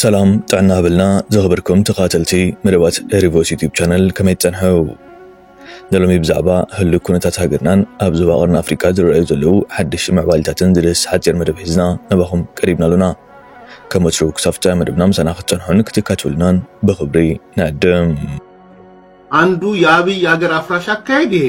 ሰላም ጥዕና ሃበልና ዝኸበርኩም ተኸታተልቲ መደባት ሪቮስ ዩቲብ ቻነል ከመይ ትጸንሑ ንሎሚ ብዛዕባ ህሉ ኩነታት ሃገርናን ኣብ ዞባ ቀርኒ ኣፍሪቃ ዝረኣዩ ዘለዉ ሓደሽቲ ምዕባሊታትን ዝድህስ ሓጺር መደብ ሒዝና ነባኹም ቀሪብና ኣሎና ከም ወትሩ ክሳብ ፍጻሜ መደብና ምሳና ክትጸንሑን ክትካትብሉናን ብኽብሪ ንዕድም አንዱ የአብይ አገር አፍራሽ አካሄድ ይሄ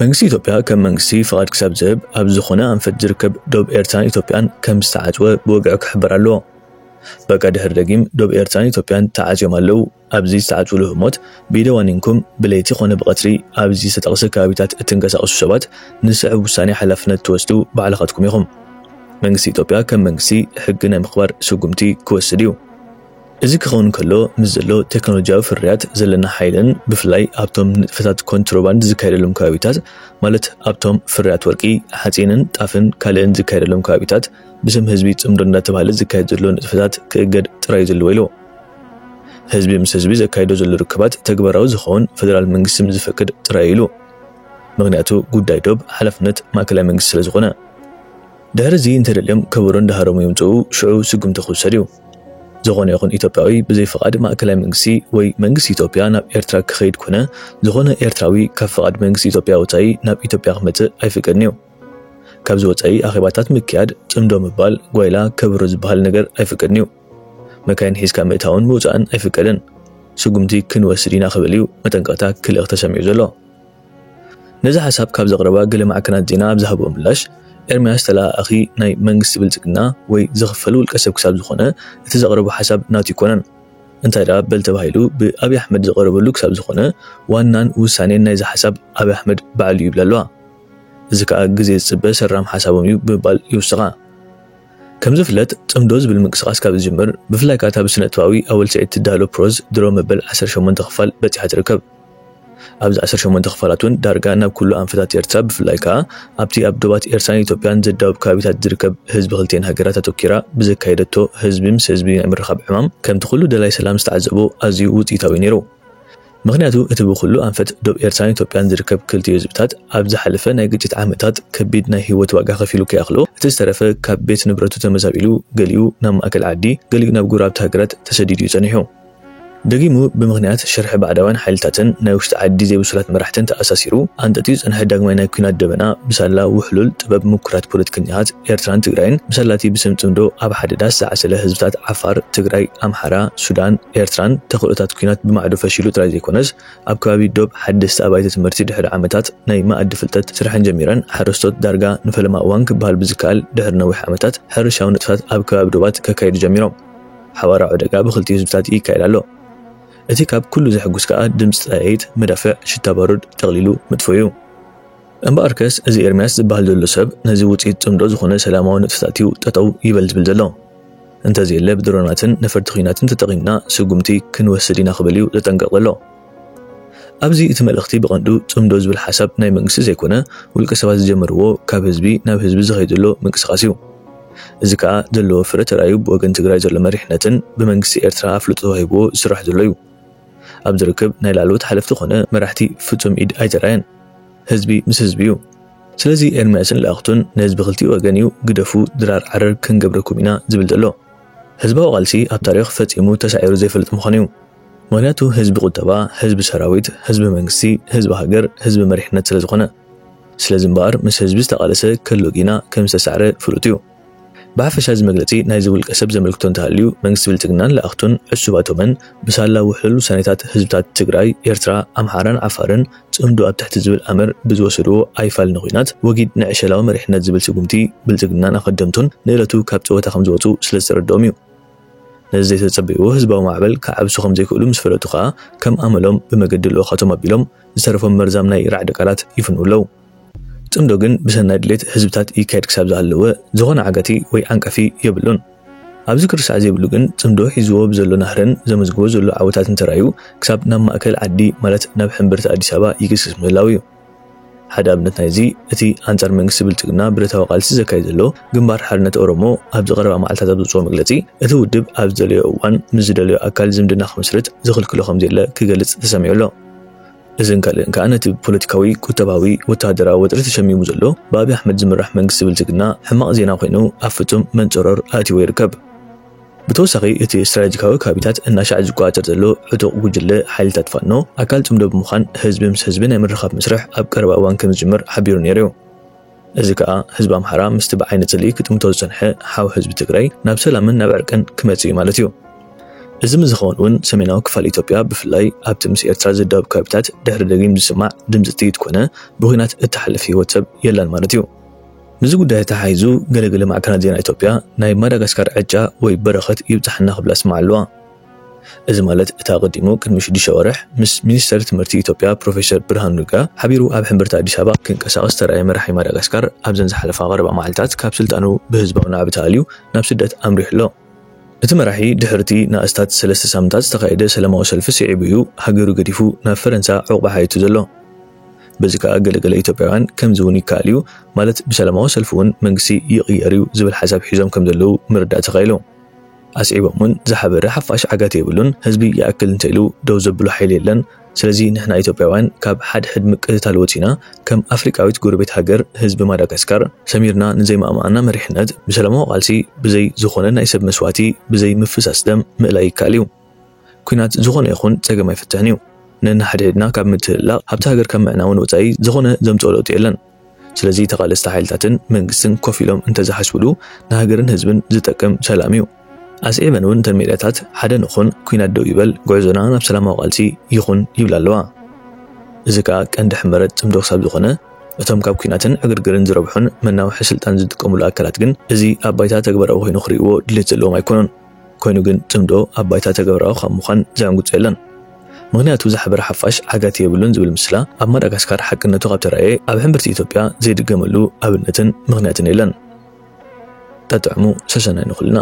መንግስቲ ኢትዮጵያ ከም መንግስቲ ፍቓድ ክሳብ ዝህብ ኣብ ዝኾነ ኣንፈት ዝርከብ ዶብ ኤርትራን ኢትዮጵያን ከም ዝተዓጽወ ብወግዒ ክሕበር ኣለዎ። በቃ ድሕሪ ደጊም ዶብ ኤርትራን ኢትዮጵያን ተዓጽዮም ኣለዉ። ኣብዚ ዝተዓጽውሉ ህሞት ብኢደ ዋኒንኩም ብለይቲ ኮነ ብቐትሪ ኣብዚ ዝተጠቕሰ ከባቢታት እትንቀሳቐሱ ሰባት ንዝስዕብ ውሳኔ ሓላፍነት ትወስዱ ባዕልኻትኩም ኢኹም። መንግስቲ ኢትዮጵያ ከም መንግስቲ ሕጊ ናይ ምኽባር ስጉምቲ ክወስድ እዩ። እዚ ክኸውን ከሎ ምስ ዘሎ ቴክኖሎጂያዊ ፍርያት ዘለና ሓይልን ብፍላይ ኣብቶም ንጥፈታት ኮንትሮባንድ ዝካየደሎም ከባቢታት ማለት ኣብቶም ፍርያት ወርቂ፣ ሓፂንን ጣፍን ካልእን ዝካየደሎም ከባቢታት ብስም ህዝቢ ፅምዶ እንዳተባሃለ ዝካየድ ዘሎ ንጥፈታት ክእገድ ጥራይ እዩ ዘለዎ ኢሉ። ህዝቢ ምስ ህዝቢ ዘካይዶ ዘሎ ርክባት ተግባራዊ ዝኸውን ፌደራል መንግስቲ ምስ ዝፈቅድ ጥራይ እዩ ኢሉ። ምኽንያቱ ጉዳይ ዶብ ሓላፍነት ማእከላይ መንግስቲ ስለዝኾነ። ድሕሪ እዚ እንተደልዮም ከበሮ እንዳሃረሙ የምፅኡ ሽዑ ስጉምቲ ክውሰድ እዩ። ዝኾነ ይኹን ኢትዮጵያዊ ብዘይ ፍቓድ ማእከላይ መንግስቲ ወይ መንግስቲ ኢትዮጵያ ናብ ኤርትራ ክኸይድ ኮነ ዝኾነ ኤርትራዊ ካብ ፍቓድ መንግስቲ ኢትዮጵያ ወጻኢ ናብ ኢትዮጵያ ክመጽእ ኣይፍቀድን እዩ። ካብዚ ወጻኢ ኣኼባታት ምክያድ፣ ጽምዶ ምባል፣ ጓይላ፣ ከብሮ ዝበሃል ነገር ኣይፍቀድን እዩ። መካይን ሒዝካ ምእታውን ምውጻእን ኣይፍቀድን። ስጉምቲ ክንወስድ ኢና ክብል እዩ መጠንቀቕታ ክልእኽ ተሰሚዑ ዘሎ። ነዚ ሓሳብ ካብ ዘቕረባ ገለ ማዕከናት ዜና ኣብ ዝሃብኦ ምላሽ፣ ኤርምያስ ተለኣኣኺ ናይ መንግስቲ ብልጽግና ወይ ዝኽፈል ውልቀሰብ ክሳብ ዝኾነ እቲ ዘቕረቦ ሓሳብ ናቱ ኣይኮነን። እንታይ ደኣ በል ተባሂሉ ብኣብይ ኣሕመድ ዝቐረበሉ ክሳብ ዝኾነ ዋናን ውሳኔን ናይዚ ሓሳብ ኣብይ ኣሕመድ ባዕሉ'ዩ ይብላ ኣለዋ። እዚ ከኣ ግዜ ዝጽበ ሰራም ሓሳቦም'ዩ ብምባል ይውስኻ። ከም ዝፍለጥ ጽምዶ ዝብል ምንቅስቓስ ካብ ዝጅምር ብፍላይ ከኣ እታ ብስነጥበባዊ ኣወል ስዒድ ትዳሎ ፕሮዝ ድሮ መበል ዓሰርተ ሸሞንተ ክፋል በጺሓ ትርከብ። ኣብዚ ዓሰርተ ሸሞንተ ክፋላት እውን ዳርጋ ናብ ኩሉ ኣንፈታት ኤርትራ ብፍላይ ከኣ ኣብቲ ኣብ ዶባት ኤርትራን ኢትዮጵያን ዘዳውብ ከባቢታት ዝርከብ ህዝቢ ክልቲኤን ሃገራት ኣተኲራ ብዘካየደቶ ህዝቢ ምስ ህዝቢ ናይ ምርኻብ ዕማም ከምቲ ኩሉ ደላይ ሰላም ዝተዓዘቦ ኣዝዩ ውጽኢታዊ'ዩ ነይሩ። ምኽንያቱ እቲ ብኹሉ ኣንፈት ዶብ ኤርትራን ኢትዮጵያን ዝርከብ ክልቲኡ ህዝብታት ኣብ ዝሓለፈ ናይ ግጭት ዓመታት ከቢድ ናይ ህይወት ዋጋ ከፊሉ ከይኣኽሎ እቲ ዝተረፈ ካብ ቤት ንብረቱ ተመዛቢሉ ገሊኡ ናብ ማእከል ዓዲ ገሊኡ ናብ ጎረባብቲ ሃገራት ተሰዲዱ'ዩ ጸኒሑ። ደጊሙ ብምኽንያት ሽርሒ ባዕዳውያን ሓይልታትን ናይ ውሽጢ ዓዲ ዘይብሱላት መራሕትን ተኣሳሲሩ ኣንጠጥዩ ዝጸንሐ ዳግማይ ናይ ኲናት ደበና ብሳላ ውሕሉል ጥበብ ምኩራት ፖለቲከኛታት ኤርትራን ትግራይን ብሳላቲ ብስም ጽምዶ ኣብ ሓደ ዳስ ዝዓሰለ ህዝብታት ዓፋር፣ ትግራይ፣ ኣምሓራ፣ ሱዳን፣ ኤርትራን ተኽእሎታት ኲናት ብማዕዶ ፈሺሉ ጥራይ ዘይኮነስ ኣብ ከባቢ ዶብ ሓደስቲ ኣባይተ ትምህርቲ ድሕሪ ዓመታት ናይ መኣዲ ፍልጠት ስርሐን ጀሚረን ሓረስቶት ዳርጋ ንፈለማ እዋን ክበሃል ብዝከኣል ድሕሪ ነዊሕ ዓመታት ሕርሻዊ ንጥፈታት ኣብ ከባቢ ዶባት ከካይዱ ጀሚሮም። ሓባራዊ ዕደጋ ብክልቲኡ ህዝብታት ይካየድ ኣሎ። እቲ ካብ ኩሉ ዘሕጉስ ከኣ ድምጺ ጠያይት መዳፍዕ፣ ሽታ ባሩድ ጠቕሊሉ ምጥፍኡ'ዩ። እምበኣርከስ እዚ ኤርምያስ ዝበሃል ዘሎ ሰብ ነዚ ውጽኢት ጽምዶ ዝኾነ ሰላማዊ ንጥፈታት'ዩ ጠጠው ይበል ዝብል ዘሎ። እንተዘየለ ብድሮናትን ነፈርቲ ኲናትን ተጠቒምና ስጉምቲ ክንወስድ ኢና ክብል'ዩ ዘጠንቅቕ ዘሎ። ኣብዚ እቲ መልእኽቲ ብቐንዱ ጽምዶ ዝብል ሓሳብ ናይ መንግስቲ ዘይኮነ ውልቀ ሰባት ዝጀመርዎ ካብ ህዝቢ ናብ ህዝቢ ዝኸይድ ዘሎ ምንቅስቓስ እዩ። እዚ ከኣ ዘለዎ ፍረ ተራእዩ ብወገን ትግራይ ዘሎ መሪሕነትን ብመንግስቲ ኤርትራ ኣፍልጦ ተዋሂብዎ ዝስራሕ ዘሎ እዩ። ኣብዚ ርክብ ናይ ላዕለዎት ሓለፍቲ ኮነ መራሕቲ ፍጹም ኢድ ኣይተራእየን። ህዝቢ ምስ ህዝቢ እዩ። ስለዚ ኤርምያስን ለኣኽቱን ንህዝቢ ክልቲኡ ወገን እዩ ግደፉ ድራር ዓረር ክንገብረኩም ኢና ዝብል ዘሎ። ህዝባዊ ቃልሲ ኣብ ታሪኽ ፈጺሙ ተሳዒሩ ዘይፈልጥ ምዃኑ እዩ። ምክንያቱ ህዝቢ ቁጠባ፣ ህዝቢ ሰራዊት፣ ህዝቢ መንግስቲ፣ ህዝቢ ሃገር፣ ህዝቢ መሪሕነት ስለ ዝኾነ። ስለዚ እምበኣር ምስ ህዝቢ ዝተቓለሰ ከሎ ጊና ከም ዝተሳዕረ ፍሉጥ እዩ። ብሓፈሻ እዚ መግለጺ ናይዚ ውልቀ ሰብ ዘመልክቶ እንተሃልዩ መንግስቲ ብልጽግናን ለኣኽቱን ዕሱባቶምን ብሳላ ውሕሉል ውሳኔታት ህዝብታት ትግራይ፣ ኤርትራ፣ ኣምሓራን ዓፋርን ጽምዶ ኣብ ትሕቲ ዝብል ኣምር ብዝወሰድዎ ኣይፋል ንኩናት ወጊድ ንዕሸላዊ መሪሕነት ዝብል ስጉምቲ ብልጽግናን ኣኸደምቱን ንእለቱ ካብ ጸወታ ከም ዝወጹ ስለ ዝተረድኦም እዩ። ነዚ ዘይተጸበይዎ ህዝባዊ ማዕበል ክዓብሱ ከም ዘይክእሉ ምስ ፈለጡ ከኣ፣ ከም ኣመሎም ብመገዲ ልኡኻቶም ኣቢሎም ዝተረፎም መርዛም ናይ ራዕዲ ቃላት ይፍንዉ ኣለዉ። ጽምዶ ግን ብሰናይ ድሌት ህዝብታት ይካየድ ክሳብ ዝሃለወ፣ ዝኾነ ዓጋቲ ወይ ዓንቃፊ የብሉን። ኣብዚ ክርሳዕ ዘይብሉ ግን፣ ጽምዶ ሒዝዎ ብዘሎ ናህርን ዘመዝግቦ ዘሎ ዓወታትን ተራእዩ ክሳብ ናብ ማእከል ዓዲ ማለት ናብ ሕምብርቲ ኣዲስ ኣበባ ይግስግስ ምህላዉ'ዩ። ሓደ ኣብነት ናይዚ እቲ ኣንጻር መንግስቲ ብልጽግና ብረታዊ ቃልሲ ዘካይድ ዘሎ ግንባር ሓርነት ኦሮሞ ኣብዚ ቀረባ መዓልታት ኣብ ዘውጽኦ መግለጺ እቲ ውድብ ኣብ ዝደለዮ እዋን ምስ ዝደለዮ ኣካል ዝምድና ክምስርት ዝኽልክሎ ከምዘየለ ክገልጽ ተሰሚዑ ኣሎ። እዝን ካልእን ከኣ ነቲ ብፖለቲካዊ፣ ቁጠባዊ፣ ወተሃደራዊ ወጥሪ ተሸሚሙ ዘሎ ብኣብይ ኣሕመድ ዝምራሕ መንግስቲ ብልጽግና ሕማቕ ዜና ኮይኑ ኣብ ፍጹም መንጸሮር ኣእትይዎ ይርከብ። ብተወሳኺ እቲ ስትራቴጂካዊ ከባቢታት እናሻዕ ዝቆፃፀር ዘሎ ዕጡቕ ጉጅለ ሓይልታት ፋኖ፣ ኣካል ፅምዶ ብምዃን ህዝቢ ምስ ህዝቢ ናይ ምርኻብ መስርሕ ኣብ ቀረባ እዋን ከምዝጅምር ሓቢሩ ነይሩ ዩ። እዚ ከዓ ህዝቢ ኣምሓራ ምስቲ ብዓይኒ ፅልኢ ክጥምቶ ዝፀንሐ ሓው ህዝቢ ትግራይ ናብ ሰላምን ናብ ዕርቅን ክመፅእ ዩ ማለት ዩ። እዚ ምስዝኸውን ውን ሰሜናዊ ክፋል ኢትዮጵያ ብፍላይ ኣብቲ ምስ ኤርትራ ዝዳወብ ከባቢታት ድሕሪ ደጊም ዝስማዕ ድምፂ ጥይት ኮነ ብኹናት እትሓልፍ ህይወት ሰብ የላን ማለት ዩ። ምስዚ ጉዳይ ተተሓሒዙ ገለ ገለ ማዕከናት ዜና ኢትዮጵያ ናይ ማዳጋስካር ዕጫ ወይ በረኸት ይብጻሓና ክብላ ይስምዓ ኣለዋ። እዚ ማለት እቲ ኣቐዲሙ ቅድሚ ሽዱሽተ ኣዋርሕ ምስ ሚኒስተር ትምህርቲ ኢትዮጵያ ፕሮፌሰር ብርሃኑ ነጋ ሓቢሩ ኣብ ሕምብርቲ ኣዲስ ኣበባ ክንቀሳቐስ ዝተራእየ መራሒ ማዳጋስካር ኣብዘን ዝሓለፋ ቀረባ መዓልታት ካብ ስልጣኑ ብህዝባዊ ናዕቢ ተኣልዩ ናብ ስደት ኣምሪሑ ኣሎ። እቲ መራሒ ድሕሪ'ቲ ንኣስታት ሰለስተ ሳምንታት ዝተኻየደ ሰላማዊ ሰልፊ ስዒቡ እዩ ሃገሩ ገዲፉ ናብ ፈረንሳ ዑቕባ ሓቲቱ ዘሎ። በዚ ከኣ ገለ ገለ ኢትዮጵያውያን ከምዚ እውን ይከኣል እዩ፣ ማለት ብሰላማዊ ሰልፊ እውን መንግስቲ ይቕየር እዩ ዝብል ሓሳብ ሒዞም ከም ዘለዉ ምርዳእ ተኻኢሉ። ኣስዒቦም እውን ዝሓበረ ሓፋሽ ዓጋቲ የብሉን፣ ህዝቢ ይኣክል እንተኢሉ ደው ዘብሎ ሓይሊ የለን፣ ስለዚ ንሕና ኢትዮጵያውያን ካብ ሓድሕድ ምቅትታል ወጺእና ከም ኣፍሪቃዊት ጎረቤት ሃገር ህዝቢ ማዳጋስካር ሰሚርና ንዘይማእማኣና መሪሕነት ብሰላማዊ ቃልሲ ብዘይ ዝኾነ ናይ ሰብ መስዋእቲ ብዘይ ምፍሳስ ደም ምእላይ ይከኣል እዩ። ኲናት ዝኾነ ይኹን ጸገም ኣይፈትሕን እዩ። ነንሓድሕድና ካብ ምትህልላቕ፣ ሃብቲ ሃገር ካብ ምዕናውን ወጻኢ ዝኾነ ዘምጽኦ ለውጢ የለን። ስለዚ ተቓለስቲ ሓይልታትን መንግስትን ኮፍ ኢሎም እንተዝሓስብሉ ንሃገርን ህዝብን ዝጠቅም ሰላም እዩ። ኣስዒበን እውን እተን ሜድያታት ሓደ ንኹን፣ ኲናት ደው ይበል፣ ጉዕዞና ናብ ሰላማዊ ቃልሲ ይኹን ይብላ ኣለዋ። እዚ ከኣ ቀንዲ ሕመረት ጽምዶ ክሳብ ዝኾነ፣ እቶም ካብ ኲናትን ዕግርግርን ዝረብሑን መናውሒ ስልጣን ዝጥቀሙሉ ኣካላት ግን እዚ ኣብ ባይታ ተግባራዊ ኮይኑ ክርእይዎ ድሌት ዘለዎም ኣይኮኑን። ኮይኑ ግን ጽምዶ ኣብ ባይታ ተግባራዊ ካብ ምዃን ዝዕንግጾ የለን። ምኽንያቱ ዝሓበረ ሓፋሽ ዓጋቲ የብሉን ዝብል ምስላ ኣብ ማዳጋስካር ሓቅነቱ ካብ ተራእየ ኣብ ሕምብርቲ ኢትዮጵያ ዘይድገመሉ ኣብነትን ምኽንያትን የለን። ጠጥዕሙ ሰሰናይ ንኹልና።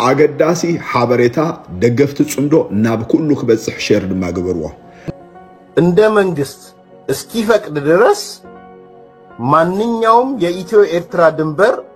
ኣገዳሲ ሓበሬታ ደገፍቲ ጽምዶ ናብ ኩሉ ክበጽሕ ሼር ድማ ግበርዎ። እንደ መንግስት እስኪፈቅድ ድረስ ማንኛውም የኢትዮ ኤርትራ ድንበር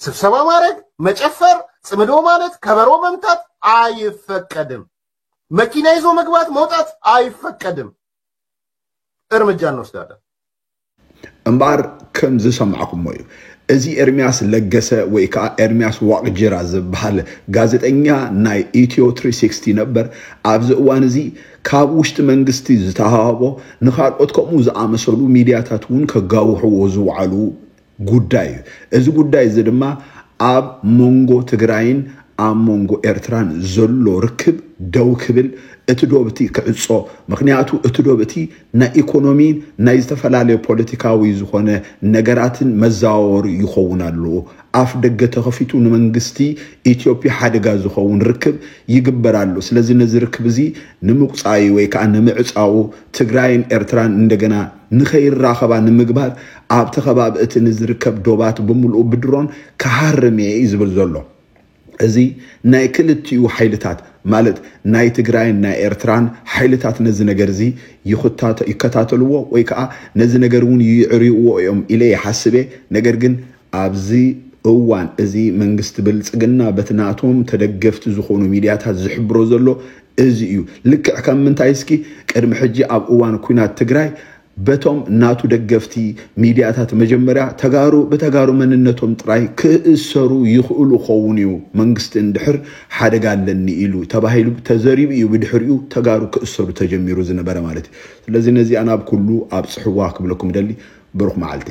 ስብሰባ ማድረግ፣ መጨፈር፣ ጽምዶ ማለት፣ ከበሮ መምታት አይፈቀድም። መኪና ይዞ መግባት መውጣት አይፈቀድም። እርምጃ እንወስዳለን። እምበኣር ከም ዝሰማዕኹሞ እዩ እዚ ኤርሚያስ ለገሰ ወይ ከዓ ኤርሚያስ ዋቅጅራ ዝበሃል ጋዜጠኛ ናይ ኢትዮ 360 ነበር ኣብዚ እዋን እዚ ካብ ውሽጢ መንግስቲ ዝተሃቦ ንካልኦት ከምኡ ዝኣመሰሉ ሚድያታት እውን ከጋውሕዎ ዝውዓሉ ጉዳይ እዩ። እዚ ጉዳይ እዚ ድማ ኣብ ሞንጎ ትግራይን ኣብ ሞንጎ ኤርትራን ዘሎ ርክብ ደው ክብል እቲ ዶብ እቲ ክዕጾ ምክንያቱ እቲ ዶብ እቲ ናይ ኢኮኖሚ ናይ ዝተፈላለየ ፖለቲካዊ ዝኾነ ነገራትን መዘዋወሪ ይኸውን ኣለዎ ኣፍ ደገ ተኸፊቱ ንመንግስቲ ኢትዮጵያ ሓደጋ ዝኸውን ርክብ ይግበር ኣሎ ስለዚ ነዚ ርክብ እዚ ንምቁጻዩ ወይ ከዓ ንምዕጻዉ ትግራይን ኤርትራን እንደገና ንከይራኸባ ንምግባር ኣብቲ ከባቢ እቲ ንዝርከብ ዶባት ብምልኡ ብድሮን ክሃርም እየ እዩ ዝብል ዘሎ። እዚ ናይ ክልቲኡ ሓይልታት ማለት ናይ ትግራይን ናይ ኤርትራን ሓይልታት ነዚ ነገር እዚ ይኸታተልዎ ወይ ከዓ ነዚ ነገር እውን ይዕርዩዎ እዮም ኢለ ይሓስብ እየ ነገር ግን ኣብዚ እዋን እዚ መንግስቲ ብልፅግና በቲ ናቶም ተደገፍቲ ዝኾኑ ሚድያታት ዝሕብሮ ዘሎ እዚ እዩ። ልክዕ ከም ምንታይ እስኪ ቅድሚ ሕጂ ኣብ እዋን ኲናት ትግራይ በቶም ናቱ ደገፍቲ ሚድያታት መጀመርያ ተጋሩ ብተጋሩ መንነቶም ጥራይ ክእሰሩ ይኽእሉ ኾውን እዩ መንግስቲ እንድሕር ሓደጋ ኣለኒ ኢሉ ተባሂሉ ተዘሪቡ እዩ ብድሕሪኡ ተጋሩ ክእሰሩ ተጀሚሩ ዝነበረ ማለት እዩ። ስለዚ ነዚኣ ናብ ኩሉ ኣብፅሕዋ ክብለኩም እደሊ። ብሩኽ መዓልቲ።